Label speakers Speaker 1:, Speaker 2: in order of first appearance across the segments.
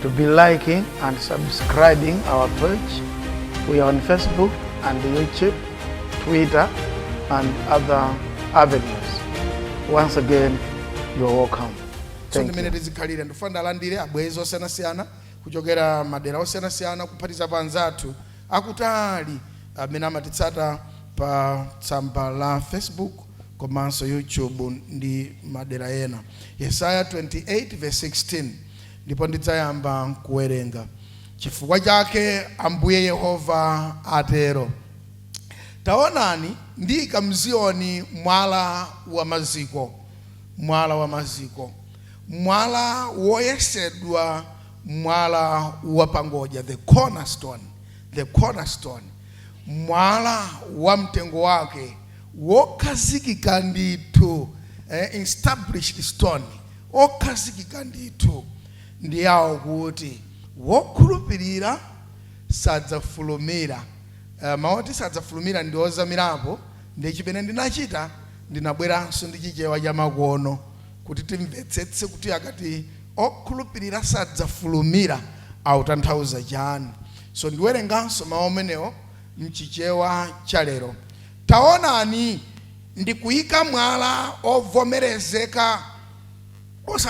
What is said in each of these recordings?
Speaker 1: to be liking and subscribing our page. We are on Facebook and YouTube, Twitter, and other avenues. Once again, you are welcome. Thank you. tizikhalire ndifuna ndalandire
Speaker 2: abwezi osiyanasiyana kuchokera madera osiyanasiyana kuphatizapo anzathu akutali amene amatitsata pa tsamba la facebook komanso youtube ndi madera ena yesaya 28 16 Ndipo ndidzayamba kuwerenga. Chifukwa chake Ambuye Yehova atero, Taonani, ndiika m'Ziyoni mwala wa maziko, mwala wa maziko, mwala woyesedwa, mwala wapangodya, the cornerstone, the cornerstone, mwala wa mtengo wake, wokhazikika ndithu, eh, established stone. okhazikika ndithu ndi awo kuti wokhulupirira sadzafulumira. Mawu oti sadzafulumira ndi ozamirapo ndiye chimene ndinachita ndinabweranso ndi Chichewa chamakono kuti timvetsetse kuti akati okhulupirira sadzafulumira akutanthauza chani. So ndiwerenganso mawu amenewo m'Chichewa cha lero. Taonani! ndikuyika mwala ovomerezeka so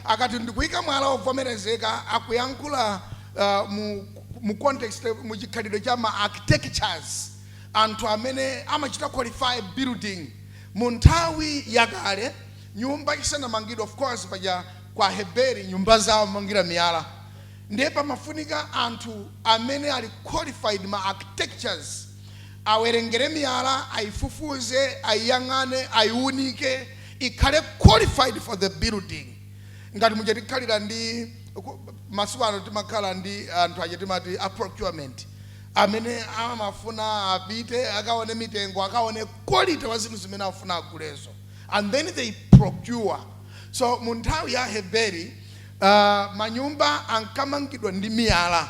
Speaker 2: akati ndikuyika mwala ovomerezeka akuyankhula uh, mu, mu context mu chikhalidwe cha ma architectures anthu amene amachita qualify building mu nthawi yakale nyumba isanamangidwa of course paja kwa aheberi nyumba zawo amangira miyala ndiye pamafunika anthu amene ali qualified ma architectures awerengere miyala, ayifufuze, ayiyang'ane, ayiwunike, ikhale qualified for the building. Ngati muja tikhalira ndi ku- masiku ano timakhala ndi anthu aja timati a procurement amene amafuna apite akaone mitengo akaone quality wa zinthu zimene afuna agulezo and then they procure so mu nthawi ya aheberi uh, manyumba ankamangidwa ndi miyala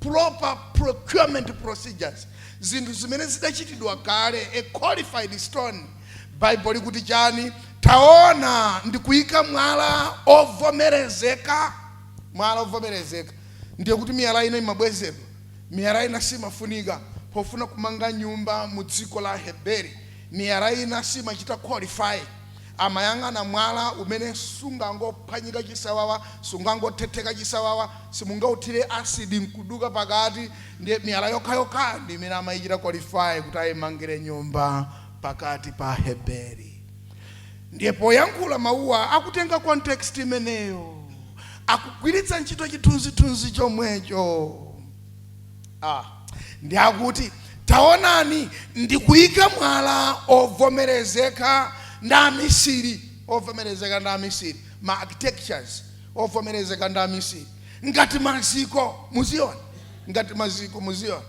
Speaker 2: proper procurement procedures zinthu zimene zidachitidwa kale a qualified stone baibulo likuti chani taona ndikuyika mwala ovomerezeka mwala ovomerezeka ndiye kuti miyala ina imabwezedwa miyala ina simafunika pofuna kumanga nyumba mu dziko la aheberi miyala ina simachita qualify Amayang'ana mwala umene sungangophwanyika chisawawa, sungangothetheka chisawawa, simungauthire acid nkuduka pakati, ndiye miyala yokhayokhayo ndi imene amaichita qualify kuti aimangire nyumba pakati pa Aheberi. Ndiye poyankhula mawuwa akutenga context imeneyo, akugwiritsa ntchito chithunzithunzi chomwecho. a. Ndi akuti, Taonani, ndikuika mwala ovomerezeka ndi amisiri, ovomerezeka ndi amisiri, ma architectures, ovomerezeka ndi amisiri, ngati maziko mu Ziyoni, ngati maziko mu Ziyoni,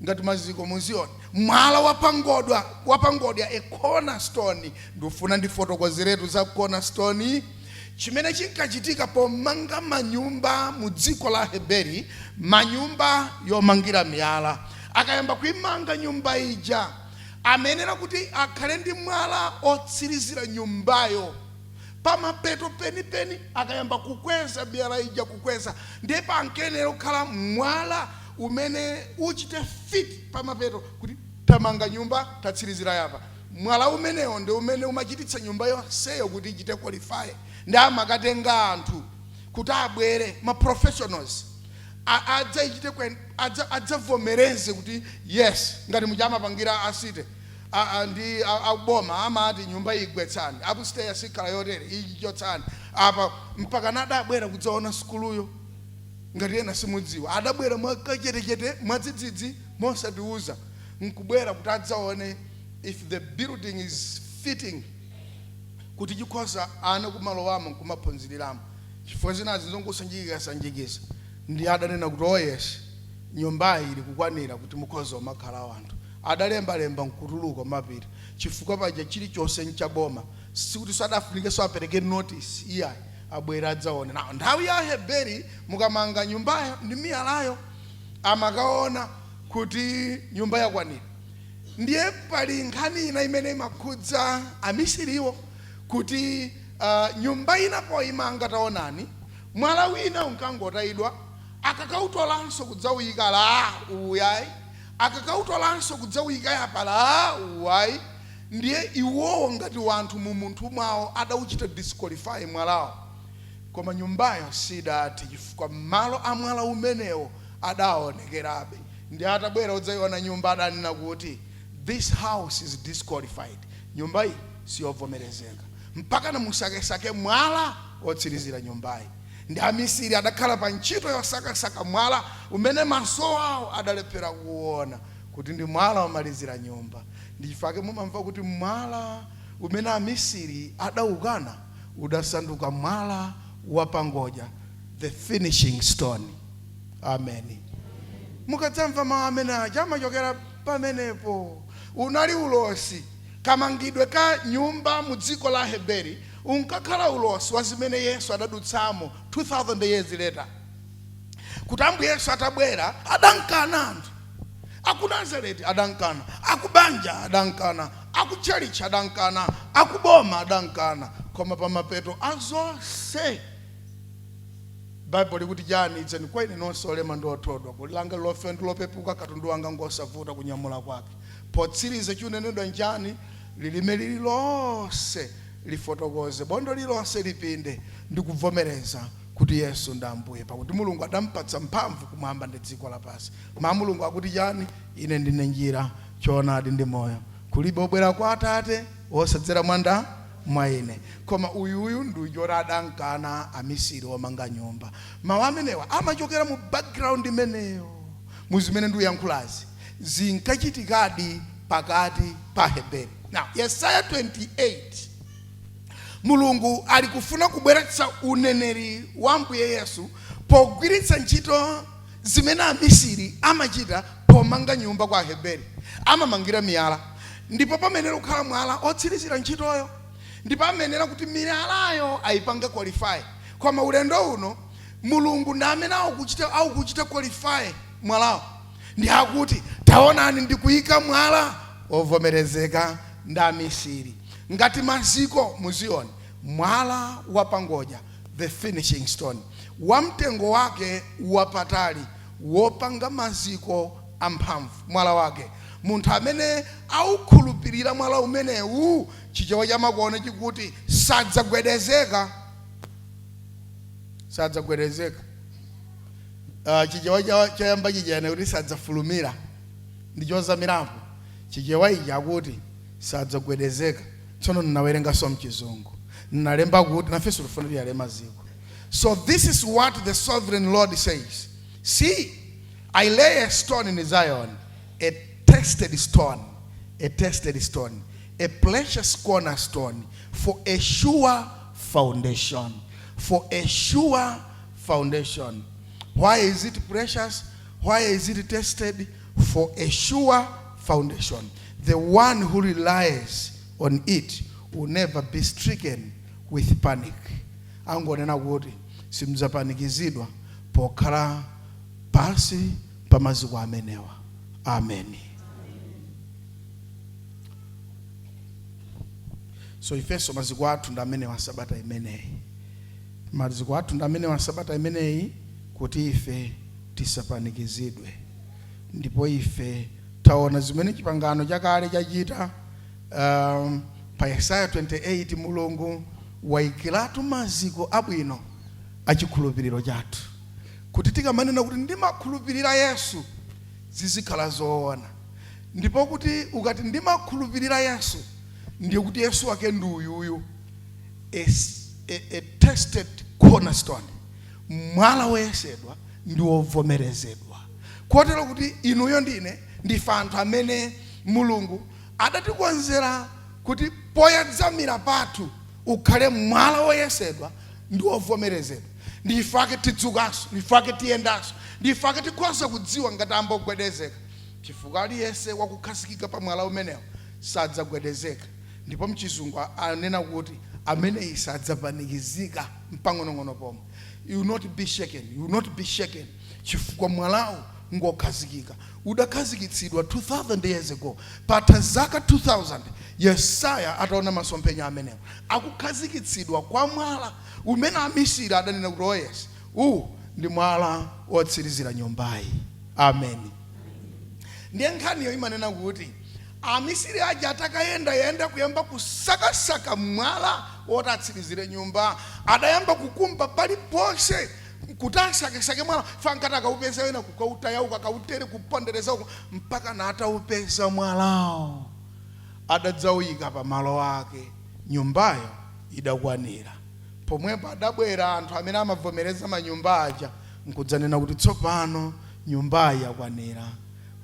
Speaker 2: ngati maziko mu Ziyoni, mwala wapangodwa, wapangodya, a cornerstone, ndifuna ndifotokozeretu za cornerstone, Chimene chinkachitika pomanga manyumba mu dziko la Aheberi, manyumba yomangira miyala, akayamba kuimanga nyumba ija, amayenera kuti akhale ndi mwala otsirizira nyumbayo. Pamapeto penipeni akayamba kukweza miyala ija, kukweza, ndiye pankayenera kukhala mwala umene uchite fit pamapeto kuti tamanga nyumba, tatsirizira yapa. Mwala umenewo ndi umene umachititsa nyumba yonseyo kuti ichite qualify nde amakatenga anthu kuti abwere ma professionals a adzaichite que adza adzavomereze kuti yes ngati muja amapangira a city ndi a boma amati nyumba iyi gwetsani upstair siikhala yotere iyi chotsani apa mpakana adabwera kudzaona sukuluyo ngati ena simudziwa adabwera mwakachetechete mwadzidzidzi mosatiuza nkubwera kuti adzaone if the building is fitting kuti chikhoza ana kumalowamo nkumaphunziriramo chifukwa zinazi nzongosanjikizasanjikiza nde adanena kuti oh yes nyumbayi ili kukwanira kuti mukhoza kumakhala wanthu adalembalemba nkutuluka kumapita chifukwa paja chilichonse nchaboma sikuti sadafunikenso apereke notice iyayi abwera adzaone nayo nthawi ya Aheberi mukamanga nyumbayo ndi miyalayo amakaona kuti nyumba yakwanira. Ndiye pali nkhani ina imene imakhudza amisiriwo kuti uh, nyumba ina poyimanga taonani mwala wina unkangotayidwa akakautolanso kudzawuyika ala uwu ayi akakautolanso kudzawuyika yapa ala uwu ayi ndiye iwowo ngati wanthu mu umunthu mwawo adauchita disqualify mwalawo koma nyumbayo sidathe chifukwa malo a mwala umenewo adaawonekerabe. Ndiye atabwera odzaiwona nyumba adanena kuti, This house is disqualified, Nyumba iyi siyovomerezeka. Mpakana mukasakesake mwala wotsirizira nyumbayi. Ndi amisiri adakhala pa ntchito yosakasaka mwala umene maso ao adalephera kuona, kuti ndi mwala womalizira nyumba. Ndichifukwa chake mumamva kuti mwala umene amisiri adaukana udasanduka mwala wapangodya, the finishing stone. Ameni. Mukadzamva mawu amene aja amachokera pamenepo. Unali ulosi. Kamangidwe ka nyumba mu dziko la Aheberi unkakhala ulosi wa zimene Yesu adadutsamo 2000 years later. Kuti Ambuye Yesu atabwera adamkana anthu akunazareti adamkana, akubanja adamkana, akutchalitchi adamkana, akuboma adamkana, koma pamapeto a zonse, Bible ikuti chani? Idzeni kwa ine nonse olema ndi othodwa, goli langa lilofewa ndi lopepuka, katundu wanga ngosavuta kunyamula kwake. Potsiriza chikunenedwa nchani? Lilime lililonse lifotokoze, bondo lililonse lipinde ndi kubvomereza kuti Yesu ndi Ambuye, pakuti Mulungu adampatsa mphamvu kumwamba ndi dziko lapansi. Mau a Mulungu akuti chani? Ine ndine njira, choonadi ndi moyo. Kulibe obwera kwa Atate. Osadzera mwanda mwa ine. Koma uyu, uyu ndi uja oti adamkana amisiri omanga nyumba. Mau amenewa amachokera mu background imeneyo mu zimene ndikuyankhulazi zinkachitikadi pakati pa Aheberi. Now, Yesaya 28, Mulungu ali kufuna kubweretsa uneneri wa Ambuye Yesu pogwiritsa ntchito zimene amisiri amachita pomanga nyumba kwa Aheberi. Amamangira miyala ndipo pamayenera kukhala mwala otsirizira ntchitoyo ndipo amayenera kuti miyalayo ayipange qualify. Koma ulendo uno Mulungu ndi amene akuchita akuchita qualify mwalawo ndi akuti taonani ndikuyika mwala wovomerezeka ndi amisiri ngati maziko mu Ziyoni, mwala wapangodya. The finishing stone. Wamtengo wake wapatali, wopanga maziko amphamvu. Mwala wake. Munthu amene aukhulupirira mwala umenewu, Chichewa chamakono chikuti, sadzagwedezeka. Sadzagwedezeka. Uh, Chichewa cha- choyamba chija chinati sadzafulumira. Ndi chozamirapo. Chichewa ichi akuti sadzagwedezeka. tsono ndinawerenganso mchizungu ndinalemba kuti nafenso tifuna tiyale maziko so this is what the sovereign lord says see i lay a stone in zion a tested stone a tested stone a precious cornerstone for a sure foundation for a sure foundation why is it precious why is it tested for a sure foundation. The one who relies on it will never be stricken with panic. Angonena kuti simudzapanikizidwa pokhala pansi pa maziko amenewa. Amen. So ifenso maziko athu ndi amene wa sabata imeneyi. Maziko athu ndi amene wa sabata imeneyi kuti ife tisapanikizidwe. Ndipo ife tawona zimene Chipangano Chakale chachita. Pa Yesaya 28, Mulungu waikiratu maziko abwino a chikhulupiriro chathu, kuti tikamanena kuti, Ndimakhulupirira Yesu, zizikhala zowona. Ndipo kuti ukati, Ndimakhulupirira Yesu, ndiye kuti Yesu wake ndi uyuyu, a tested cornerstone. mwala woyesedwa ndi wovomerezedwa kotero kuti inuyo ndine ndife anthu amene mulungu adatikonzera kuti poyedzamira pathu ukhale mwala woyesedwa ndi wovomerezedwa ndife ake tidzukanso ndife ake tiyendanso ndife ake tikhoza kudziwa ngati a mbuyo gwedezeka chifukwa aliyense wakukhazikika pa mwala umenewo sadzagwedezeka ndipo mchizungu anena kuti ameneyi sadzapanikizika mpang'onong'ono pomwe. You will not be shaken, you will not be shaken chifukwa mwalawo ngokhazikika udakhazikitsidwa 2000 years ago patha zaka 2000 yesaya ataona masomphenya amenewo akukhazikitsidwa kwa mwala umene amisiri adanena kuti oh yes uwu ndi mwala wotsirizira nyumbayi amen ndiye nkhaniyo imanena kuti Amisiri aja atakayendayenda kuyamba kusakasaka mwala woti atsirizire nyumba, adayamba kukumba paliponse kuti asakesake mwala chifukwa ankati akaupeza wina kukautaya uku, akautaye kupondereza uku mpakana ataupeza mwalawo. Adadzauika pa malo ake, nyumbayo idakwanira. Pomwepo adabwera anthu amene amavomereza manyumba aja nkudzanena kuti, Tsopano nyumbayi yakwanira.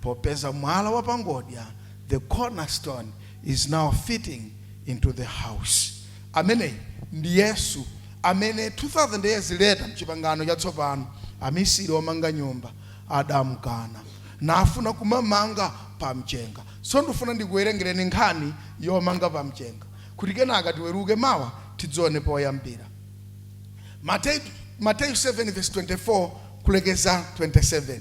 Speaker 2: Popeza mwala wa pangodya, the corner stone, is now fitting into the house. Ameneyi ndi Yesu amene 2000 years later mchipangano chatsopano amisiri omanga nyumba adamkana nafuna kumamanga pa mchenga. So ndifuna ndikuwerengereni nkhani yomanga pa mchenga kuti kenaka tiweruke mawa tidzione poyambira. Mateyu, Mateyu 7 verse 24 kulekeza 27.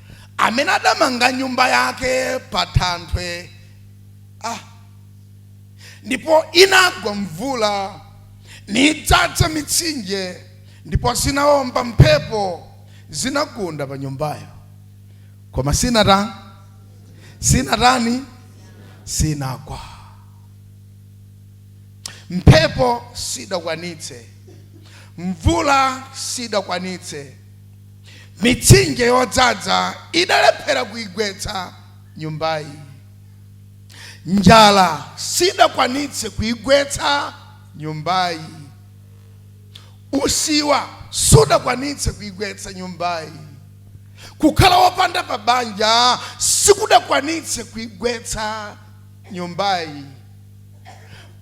Speaker 2: amene adamanga nyumba yake pa thanthwe ah. ndipo inagwa mvula nidzadza mitsinje ndipo zinawomba mphepo zinagunda pa nyumbayo koma sinatani sinatani sinagwe mphepo sidakwanitse mvula sidakwanitse Mitsinje yodzadza idalephera kuigwetsa nyumbayi. Njala sidakwanitse kuigwetsa nyumbayi. Usiwa sudakwanitse kuigwetsa nyumbayi. Kukhala wopanda pabanja sikudakwanitse kuigwetsa nyumbayi.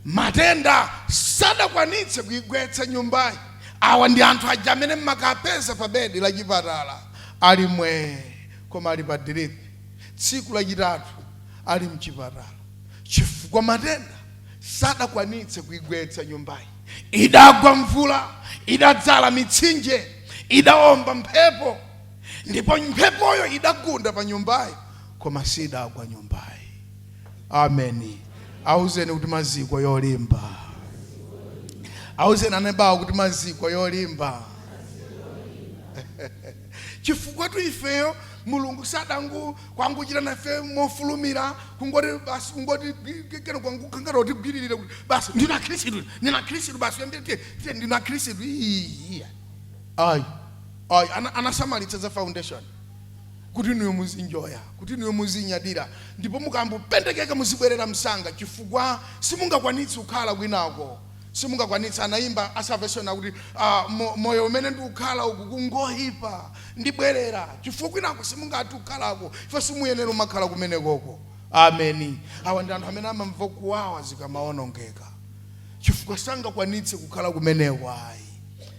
Speaker 2: Matenda sadakwanitse kuigwetsa nyumbayi. Awa ndi anthu aja amene m'makapeza pa bedi la chipatala ali mwee koma ali pa diripi tsiku lachitatu ali m'chipatala chifukwa matenda sadakwanitse kuigwetsa nyumbayi. Idagwa mvula, idadzala mitsinje, idaomba mphepo ndipo mphepoyo idagunda pa nyumbayi koma sidagwa nyumbayi. ameni auzeni kuti maziko yolimba auzeni anebawo kuti maziko yolimba chifukwa tu ifeyo mulungu sadangochita nafe mofulumira kungoti basi kungoti kena kwangukangara kuti gwiririre kuti basi ndina khristu ndina khristu basi yandite ndina khristu iya ayi ayi ana- anasamalitsa za foundation kuti inuyo muzinjoya, kuti inuyo muzinyadira, ndipo mukangopendekeka muzibwerera msanga chifukwa simungakwanitse kukhala kwinako, simungakwanitse. Anayimba a Salvation akuti, uh, moyo umene ndikukhala ukungoipa, ndibwerera chifukwa kwinako simungathe kukhalako, ife simuyenera kumakhala kumenekoko. Ameni. Awa ndi anthu amene amamva kuwawa zikamawonongeka chifukwa sangakwanitse kukhala kumeneko ayi.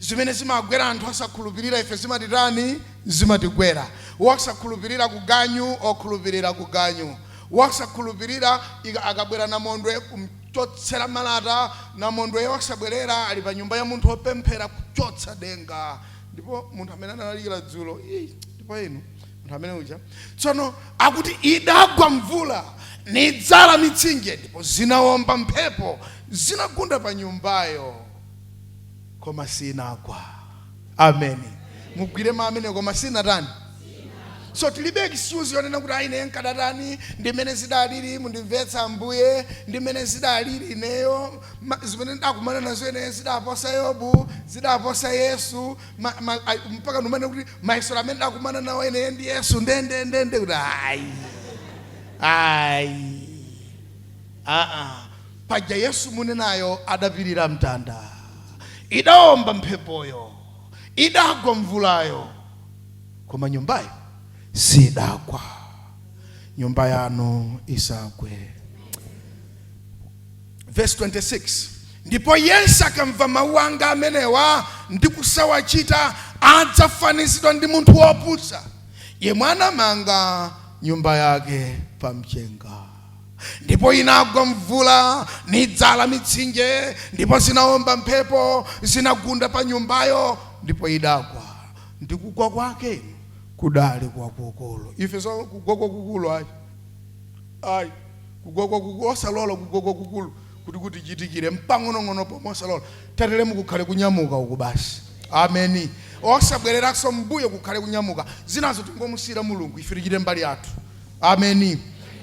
Speaker 2: Zimene zimagwera anthu osakhulupirira ife zimatitani? Zimatigwera. Wosakhulupirira ku ganyu, okhulupirira ku ganyu. Wosakhulupirira akabwera namondwe kum'chotsera malata, namondwe osabwerera, ali panyumba ya munthu wopemphera, kuchotsa denga. Ndipo munthu amene analalikira dzulo, ii, ndipo inu, munthu amene uja. Tsono, akuti idagwa mvula, nidzala mitsinje, ndipo zinawomba mphepo, zinagunda pa nyumbayo. koma sinagwa ameni mugwire mamene koma sinatani so tilibe excuse yonena kuti ayi ine nkadatani ndimene zidalili mundimvetsa ambuye ndimene zidalili ineyo ma- zimene ndakumana nazo ineyo zidaposa yobu zidaposa yesu ma- ma- ayi, mpaka ndinene kuti mayeso amene ndakumana nawo ineyo ndi yesu ndendendende kuti ayi ayi aa paja yesu munenayo adapilira mtanda idaomba mphepoyo idagwa mvulayo koma nyumbayo siidagwa nyumba yanu isagwe verse 26 ndipo yense akamva mawu anga amenewa ndi kusawachita adzafanizidwa ndi munthu wopusa yemwe anamanga nyumba yake pamchenga ndipo inagwa mvula nidzala mitsinje ndipo zinaomba mphepo zinagunda pa nyumbayo ndipo idagwa ndi kugwa kwake kudali kwakukulu ife za kugwa kwakukulu ayi ayi kugwa kwakukulu osalola kugwa kwakukulu kuti kutichitikire mpang'onong'ono pomwe osalola tateremu kukhale kunyamuka uku basi ameni osabwereranso mmbuyo kukhale kunyamuka zinazo tingomusiyira mulungu ife tichite mbali yathu Ameni.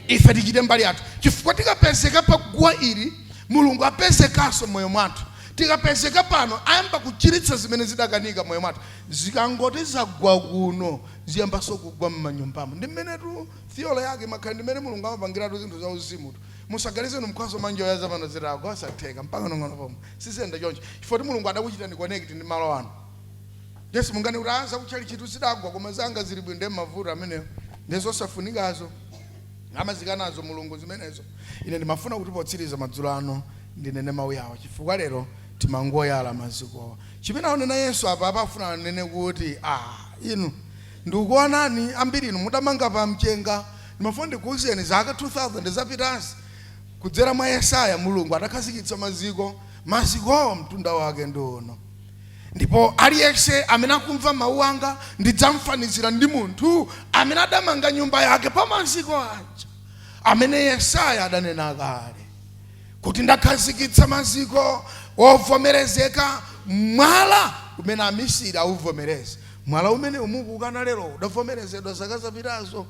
Speaker 2: Ife tichite mbali yathu, chifukwa tikapezeka pa guwa ili, Mulungu apezekanso mmoyo mwathu. Tikapezeka pano, ayamba kuchiritsa zimene zidakanika mmoyo mwathu. Zikangoti zagwa kuno, ziyambanso kugwa mmanyumbamu. Ndi mmenetu theory yake imakhala. Ndi mmene Mulungu amapangiratu zinthu za uzimutu. Musaganize inu mkhoza kumanjoya za pano zitagwa, osatheka, mpang'onong'ono pomwe. Siziyenda choncho, chifukwa kuti Mulungu adakuchitani connect ndi malo ano. Ndiye simunganene kuti ah, zakutchalitchitu zidagwa koma zanga zili bwino. Ndiye mavuto amenewo ndiye zosafunikazo amazikanazo Mulungu zimenezo. Ine ndimafuna kuti potsiriza madzulo ano ndinene mawu awo chifukwa lero timangoyala mazikowa. Chimene akunena Yesu apa apa afuna anene kuti ah, inu ndikukuonani ambiri inu mudamanga pa mchenga ndimafuna ndikuwuzeni zaka 2000 zapitazi kudzera mwa Yesaya Mulungu adakhazikitsa maziko mazikowo mtunda wake ndi uno. Ndipo aliyense amene akumva mawu anga ndidzamfanizira ndi munthu amene adamanga nyumba yake pa maziko aja amene Yesaya adanena kale kuti ndakhazikitsa maziko wovomerezeka mwala umene amisiri auvomereza. Mwala umene umukuukana lero udavomerezedwa zaka zapitazo.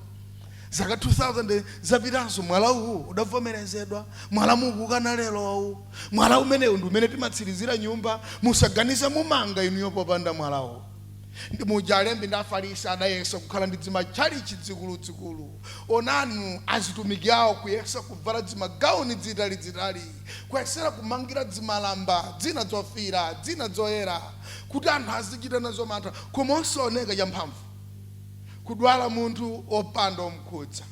Speaker 2: zaka 2000 zapitazo mwala uwu udavomerezedwa mwala mukukana lero uwu mwala umenewu ndi umene timatsirizira nyumba musaganiza mumanga inuyo popanda mwala uwu ndi mmuja alembi ndi afarisi adayesa kukhala ndi dzimatchalichi dzikuludzikulu onanu azitumiki awo kuyesa kuvala dzimagauni dzitalidzitali kuyesera kumangira dzimalamba dzina dzofira dzina dzoyera kuti anthu azichita nazo mantha koma osaoneka champhamvu kudwala munthu opanda omkhudza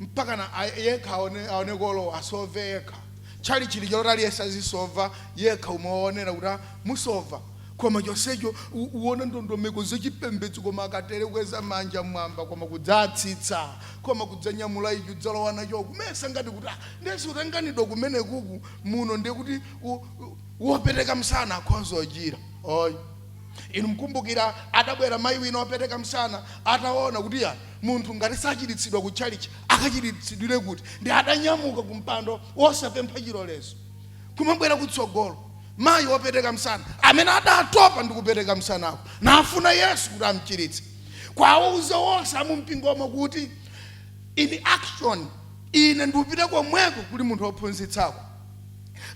Speaker 2: mpakana yekha aone kolowa asove yekha tchalichi lichaloti aliyense azisova yekha umaonera kuti ah, musova koma chonsecho u- uona ndondomeko zachipembedzo koma akatere kweza manja mwamba koma kudzatsitsa koma kudzanyamula ichi udzalowa nacho kumesa ngati kuti ah, ndesi utanganidwa kumenekuku muno ndiye kuti u- u- wopeteka msana akhonza ochira oyi inu mkumbukira adabwera mayi wina wopeteka msana ataona kuti ayi munthu ngati sachiritsidwa ku chalichi akachiritsidwire kuti ndiye adanyamuka ku mpando osapempha chilolezo kumabwera kutsogolo mayi wopeteka msana amene adatopa ndi kupeteka msanako nafuna yesu kuti amchiritse kwawauza wonse amumpingomo kuti in action ine ndikupita komweko kuli munthu wophunzitsako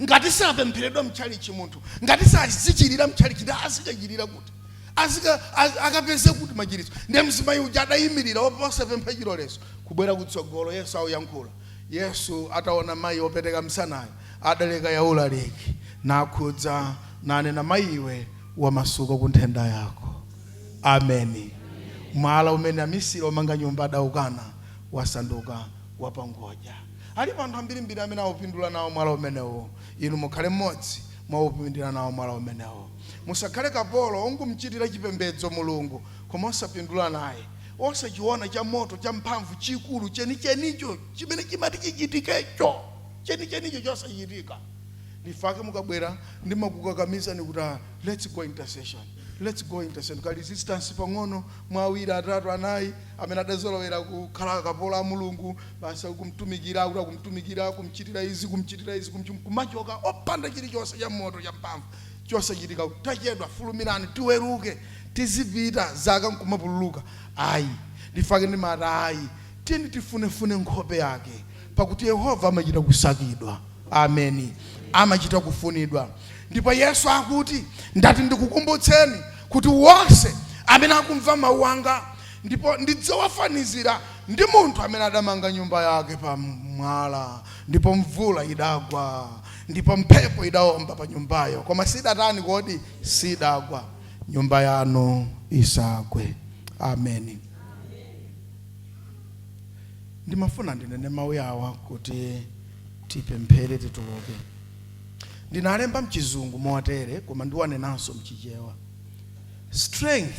Speaker 2: ngati sapempheredwa mchalichi munthu ngati sazichirira mchalichi ndiye azikachirira kuti azika az- akapeze kuti machiritso ndiye mzimayi uja adayimirira osapempha chilolezo kubwera kutsogolo yesu akuyankhula yesu ataona mayi wopeteka msanayo adaleka ulaliki nakhudza nanena mayi iwe wamasuka ku nthenda yako ameni mwala umene amisiri omanga nyumba adaukana wasanduka wapangodya Alipo anthu ambirimbiri amene awupindula nawo mwala umenewo. Inu mukhale mmodzi mwa owupindulira nawo mwala umenewo. Musakhale kapolo wongomchitira chipembedzo Mulungu koma osapindula naye, osachiwona chamoto champhamvu chikulu chenichenicho chimene chimati chichitikecho, chenichenicho chosachitika. Ndichifukwa chake mukabwera, ndimakukakamizani kuti, Ah, let's go intercession. Let's go intercession. Ka resistance pang'ono, mwa awiri, atatu, anayi amene adazolowera kukhala akapolo a Mulungu. Basi akumtumikira, akuti akumtumikira, kumchitira izi, kumchitira izi, kumchitira, nkumachoka opanda chilichonse cha moto cha mphamvu chosachitika. Tachedwa, fulumirani tiweruke, tizipita zaka nkumapululuka. Ayi, ndichifukwa chake ndimati ayi, tiyeni tifunefune nkhope yake, pakuti Yehova amachita kusakidwa. Ameni, amachita kufunidwa. Ndipo Yesu akuti, ndati ndikukumbutseni kuti wonse amene akumva mawu anga Ndipo ndidzawafanizira ndi munthu amene adamanga nyumba yake pa mwala, ndipo mvula idagwa, ndipo mphepo idaomba pa nyumbayo, koma sidatani kodi? Sidagwa. Nyumba yanu isagwe. Ameni. Ndimafuna ndinene mawu awa kuti tipemphere tituluke. Ndinalemba mchizungu motere koma ndiwanenanso mchichewa. Strength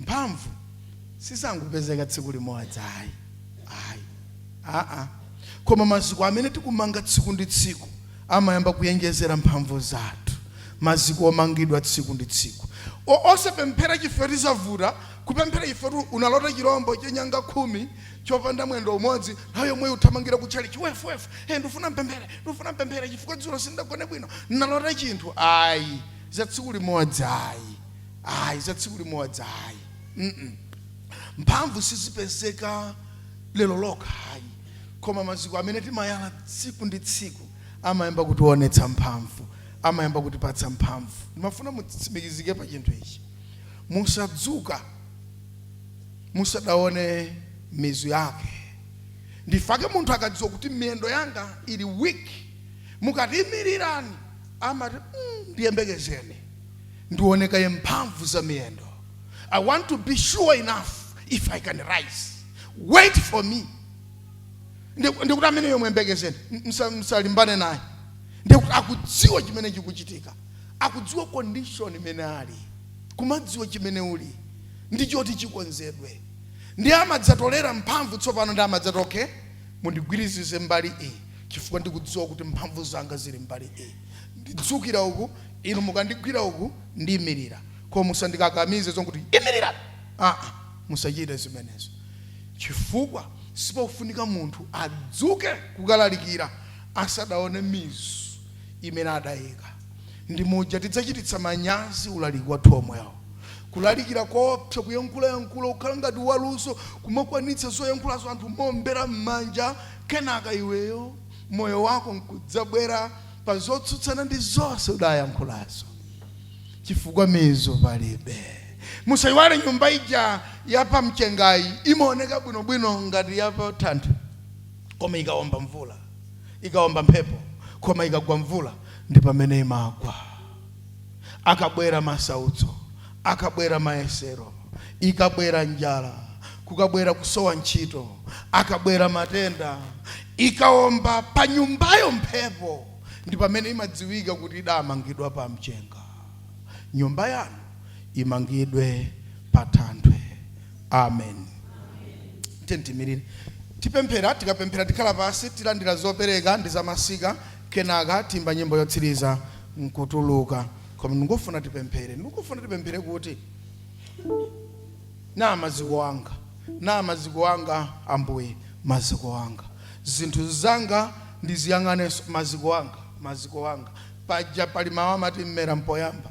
Speaker 2: mphamvu sizangopezeka tsiku limodzi ayi aa koma maziko amene tikumanga tsiku ndi tsiku amayamba kuyenjezera mphamvu zathu maziko omangidwa tsiku ndi tsiku O- osapemphera chifukwa choti zavuta kupemphera chifukwa choti unalota chirombo cha nyanga khumi chopanda mwendo umodzi nthawi yomweyo uthamangira kutchalichi wefuwefu e ndifuna ndipemphere ndifuna ndipemphere chifukwa dzulo sindagone bwino nalota chinthu ayi za tsiku limodzi ayi ayi za tsiku limodzi ayi mm mphamvu sizipezeka lero lokha ayi koma maziko amene timayala tsiku ndi tsiku amayamba kutiwonetsa mphamvu amayamba kutipatsa mphamvu ndimafuna mutsimikizike pa chinthu ichi musadzuke musadaone mizu yake ndifake munthu akadziwa kuti miyendo yanga ili weak mukati imirirani amati "Mm, ndiyembekezeni Ndione kaye mphamvu za miyendo. I want to be sure enough if I can rise. Wait for me. Ndi- Ndikuti amene uyo muyembekezeni msa- msalimbane naye. Ndikuti akudziwa chimene chikuchitika. Akudziwa condition imene ali. Kumadziwa chimene uli. Ndi choti chikonzedwe. Ndiye amadzatolera mphamvu tsopano ndiye amadzati okay mundigwirizize mbali iyi chifukwa ndikudziwa kuti mphamvu zanga zili mbali iyi ndidzukira uku inu mukandigwira uku ndiimirira koma musandikakamize zokuti imirira aa musachite zimenezo chifukwa sipofunika munthu adzuke kukalalikira asadaone mizu imene adayika ndi muja tidzachititsa manyazi ulaliki wathu omwewo kulalikira koopsa kuyankhulayankhula ukhala ngati waluso kumakwanitsa zoyankhulazo anthu mombera m'manja kenaka iweyo moyo wako nkudzabwera pa zotsutsana ndi zonse udayankhulazo chifukwa mizu palibe musayiwale nyumba ija ya pa mchengayi imaoneka bwinobwino ngati ya pa thanthwe koma ikawomba mvula ikawomba mphepo koma ikagwa mvula ndi pamene imagwa akabwera masautso akabwera mayesero ikabwera njala kukabwera kusowa ntchito akabwera matenda ikawomba pa nyumbayo mphepo ndi pamene imadziwika kuti idamangidwa pa mchenga nyumba yanu imangidwe pa thanthwe amen tiyeni tiimirire tipemphera tikapemphera tikhala pansi tilandira zopereka ndi zamasika Kenaka tiimba nyimbo yotsiriza n'kutuluka. Koma ndikufuna tipemphere. Ndikufuna tipemphere kuti, Naa maziko anga. Naa maziko anga, Ambuye, maziko anga. Zinthu zanga ndiziyang'anenso, maziko anga, maziko anga. Paja pali mawu amati, Mmera m'poyamba.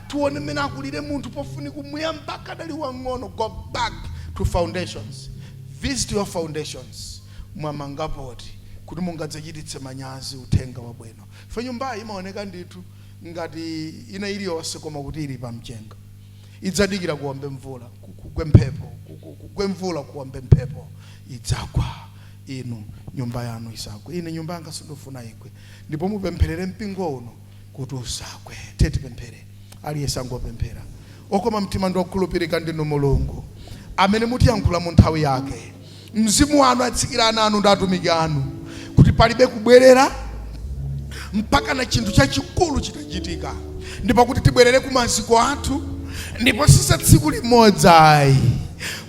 Speaker 2: Tiwone mmene akulire munthu pofunika kumuyamba akadali wang'ono go back to foundations visit your foundations mwamanga poti kuti mungadzachititse manyazi uthenga wabwino chifukwa nyumbayi imaoneka ndithu ngati ina iliyonse koma kuti ili pamchenga idzadikira kuwombe mvula kugwe mphepo kugwe mvula kuwombe mphepo idzagwa inu nyumba yanu isagwe ine nyumba yanga sindufuna igwe ndipo mupempherere mpingo uno kuti usagwe. Tiyeni tipemphere, aliyense angopemphera. Okoma mtima ndi okhulupirika ndinu Mulungu amene mutiyankhula mu nthawi yake. Mzimu wanu atsikira ana anu ndi atumiki anu kuti palibe kubwerera mpakana chinthu chachikulu chitachitika, ndipo kuti tibwerere ku maziko athu, ndipo si za tsiku limodzi ayi,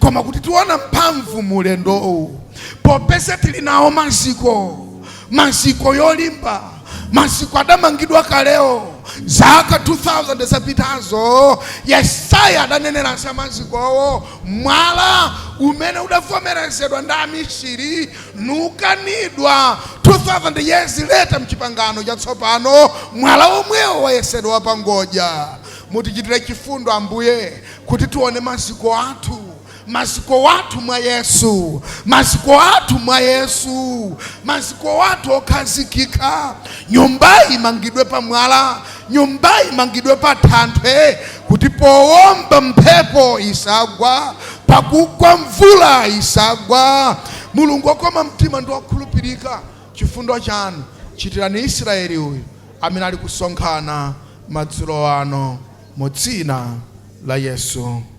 Speaker 2: koma kuti tiona mphamvu mu ulendowu popeza tili nawo maziko Maziko olimba, maziko adamangidwa kaleo zaka 2000 zapitazo. Yesaya adanenera za mazikowo, mwala umene udavomerezedwa ndi amisiri nuukanidwa 2000 years later mchipangano chatsopano, mwala womwewo wayesedwa wapangodya. Mutichitire chifundo Ambuye kuti tione maziko athu. Maziko athu mwa Yesu, maziko athu mwa Yesu, maziko athu okhazikika. Nyumbayi imangidwe pa mwala, nyumbayi imangidwe pa thanthwe, kuti powomba mphepo isagwa, pakugwa mvula isagwa. Mulungu okoma mtima ndi okhulupirika, chifundo chanu chitirani Israeli uyu amene ali kusonkhana madzulo ano, mu dzina la Yesu.